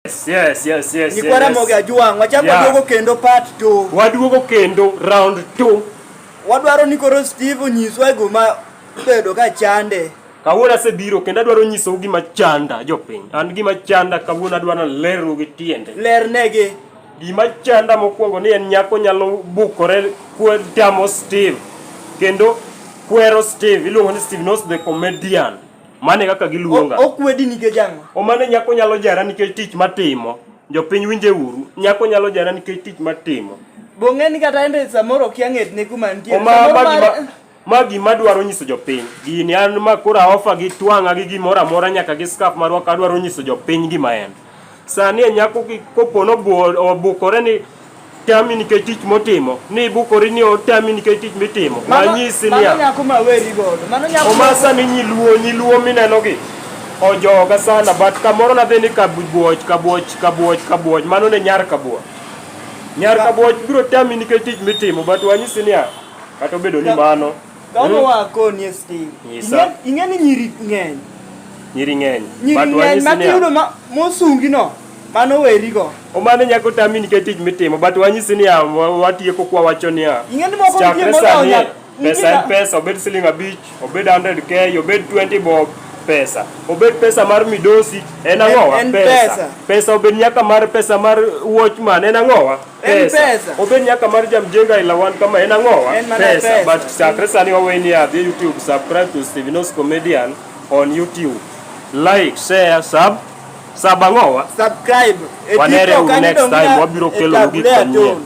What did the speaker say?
Yes, yes, yes, yes. Ni kwa Ramogi Ajwang, wachako yeah. Waduogo kendo part 2. Waduogo kendo round 2. Wadwaro ni koro Steve onyiswa gima bedo ka chande. Kawuono asebiro kendo adwaro nyisou gima chanda jopiny. An gima chanda kawuono adwaro leru gi tiende. Lernegi. Gima chanda mokwongo ni en nyako nyalo bukore kwe tamo Steve. Kendo kwero Steve, iluongo ni Steve Knows the comedian. Mane kaka giluonga. Okwedi nikech ang'o? O mane nyako nyalo jara nikech tich matimo. Jopiny winje uru. Nyako nyalo jara nikech tich matimo. Bong'eni kata ende samoro kia ng'etne kuma nitie. Ma gima dwaro nyiso jopiny. Gini an ma kora ofa gi twang'a gi gimoro amora nyaka gi skaf marwa ka dwaro nyiso jopiny gima en. Sani e nyako kopono obukore ni tami nikech tich motimo ni ibukori ni otami nikech tich mitimo manyisi niya omasa ni nyiluo nyiluo minenogi ojoga sana but kamoro nadhi ni kabuoch kabuoch kabuoch kabuoch mano ne nyar kabuoch nyar kabuoch biro tami nikech tich mitimo but wanyisi niya kata obedo ni mano Kama hmm? wa ko ni sti. Nyisa. Inge ni nyiri ng'eny. Nyiri ng'eny. Nyiri ng'eny ma kiyudo ma mosungi no. Mano weri go. O mano nyako tami ni ketij mitimo but wanyisi ni watiye ko kwa wacho ni a. Inge ni moko ni mo na onya. Pesa en pesa obed siling abich, obed 100k, obed 20 bob pesa. Obed pesa mar midosi en ang'owa pesa. Pesa obed nyaka mar pesa mar watchman en ang'owa. pesa obed nyaka mar jamjenga ila wan kama en ang'owa pesa but chakre sani waweni adhi youtube subscribe to stevenos comedian on youtube like share sub sub ang'owa subscribe wanere next time wabiro kelonu gik manyien